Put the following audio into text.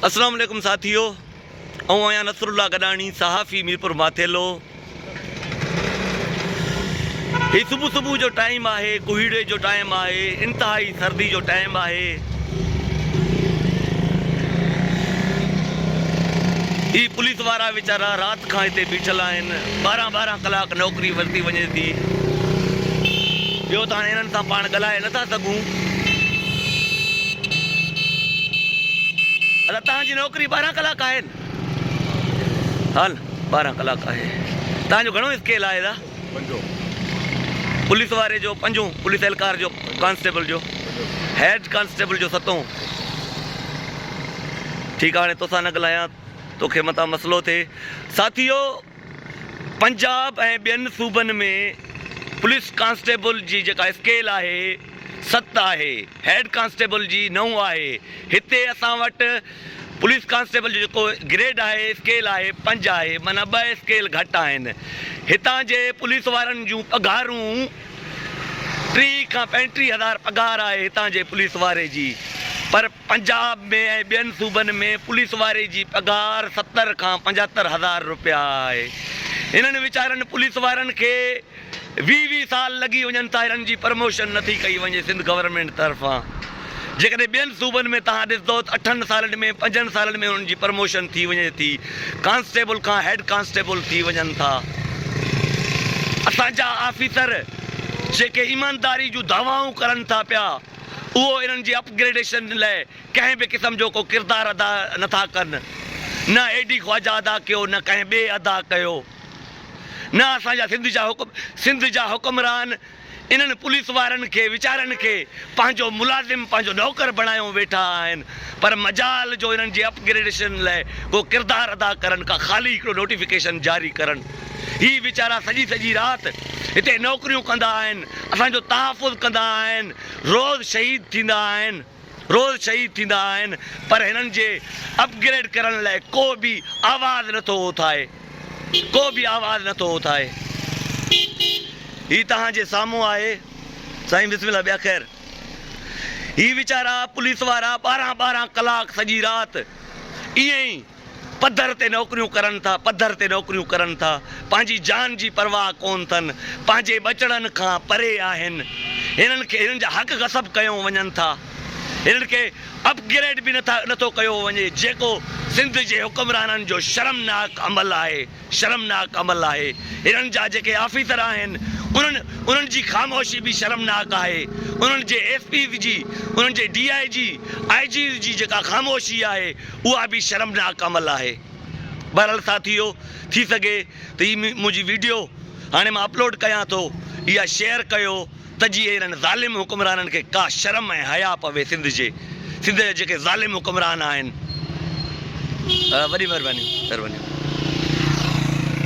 اسلام عليڪم ساٿيو آئون آهيان نصر الله گڏاڻي صحافي ميرپور ماٿيلو هي صبح صبح جو ٽائيم آهي ڪوهيڙي جو ٽائيم آهي انتهائي سردي جو ٽائيم آهي هي پوليس وارا ويچارا رات کان هتي بيٺل آهن ٻارهن ٻارهن ڪلاڪ نوڪري ورتي وڃي ٿي ٻيو ته هاڻي هنن سان پاڻ ڳالهائي نٿا سگهون ادا تهان جي نوڪري ٻارهن ڪلاڪ آهي نه ها نه ٻارهن ڪلاڪ آهي تهان جو گهڻو اسڪيل آهي ادا پنجو پوليس واري جو پنجو پوليس اهلڪار جو ڪانسٽيبل جو هيڊ ڪانسٽيبل جو ستو ٺيڪ آهي هاڻي توسان نه ڳالهايان توکي متان مسئلو ٿئي ساٿيو پنجاب ۽ ٻين صوبن ۾ پوليس ڪانسٽيبل جي جيڪا اسڪيل آهي ست آهي، هيڊ ڪانسٽيبل جي نو آهي، هتي اسان وٽ پوليس ڪانسٽيبل جو جيڪو گريڊ آهي اسڪيل آهي پنج آهي معنيٰ ٻه اسڪيل گهٽ آهن، هتان جي پوليس وارن جون پگهارون ٽيهه کان پنجٽيهه هزار پگهار آهي هتان جي پوليس واري جي پر. پنجاب ۾ ۽ ٻين صوبن ۾ پوليس واري جي پگهار ستر کان پنجهتر هزار روپيا آهي. هنن ويچارن پوليس وارن کي ويهه ويهه سال لڳي وڃن ٿا هنن جي پرموشن نٿي ڪئي وڃي سنڌ گورنمينٽ طرفان جيڪڏهن ٻين صوبن ۾ توهان ڏسندو ته اٺن سالن ۾ پنجن سالن ۾ هنن جي پرموشن ٿي وڃي ٿي ڪانسٽيبل کان هيڊ ڪانسٽيبل ٿي وڃن ٿا اسان جا آفيسر جيڪي ايمانداري جون دعوائون ڪرن ٿا پيا. اهو انهن جي اپ گريڊيشن لئه ڪنهن به قسم جو ڪو ڪردار ادا نه ٿا ڪن. نه اي ڊي خواجه ادا ڪيو نه ڪنهن ٻئي ادا ڪيو. نه اسان جا سنڌ جا حڪم سنڌ جا حڪمران انهن پوليس وارن کي ويچارن کي پنهنجو ملازم پنهنجو نوڪر بڻايو ويٺا آهن پر مجال جو انهن جي اپ گريڊيشن لئه ڪو ڪردار ادا ڪرن ڪا خالي هڪڙو نوٽيفڪيشن جاري ڪرن. هي ويچارا سڄي سڄي رات هتي نوڪريون ڪندا آهن، اسان جو تحفظ ڪندا آهن، روز شهيد ٿيندا آهن، روز شهيد ٿيندا آهن، پر هنن جي اپ گريڊ ڪرڻ لاء ڪو به آواز نه ٿو اٿائي، ڪو به آواز نه ٿو اٿائي. هي توهان جي سامهون آهي سائين بسم الله ٻيا خير هي ويچارا پوليس وارا ٻارهن ٻارهن ڪلاڪ سڄي رات ائين ئي. پڌر تي نوڪريون ڪرن ٿا، پڌر تي نوڪريون ڪرن ٿا، پنهنجي جان جي پرواهه ڪون ٿن، پنهنجي ٻچڙن کان پري آهن، هنن کي هنن جا حق غصب ڪيون وڃن ٿا، هنن کي اپ گريڊ به نٿا نٿو ڪيو وڃي، جيڪو سنڌ جي حڪمرانن جو شرمناڪ عمل آهي. شرمناڪ عمل آهي. هنن جا جيڪي آفيسر آهن انهن انهن جي خاموشي به شرمناڪ آهي. انهن جي ايس پيز جي، انهن جي DIG, IGs جي جيڪا خاموشي آهي اها به شرمناڪ عمل آهي. بهرحال ساٿيو ٿي سگهي ته هي منهنجي ويڊيو هاڻي مان اپلوڊ ڪيان ٿو اها شيئر ڪيو. ته جي اهڙن ظالم حڪمرانن کي ڪا شرم ۽ حياء پوي سنڌ جي سنڌ جا جيڪي ظالم حڪمران آهن وڏي مهرباني مهرباني.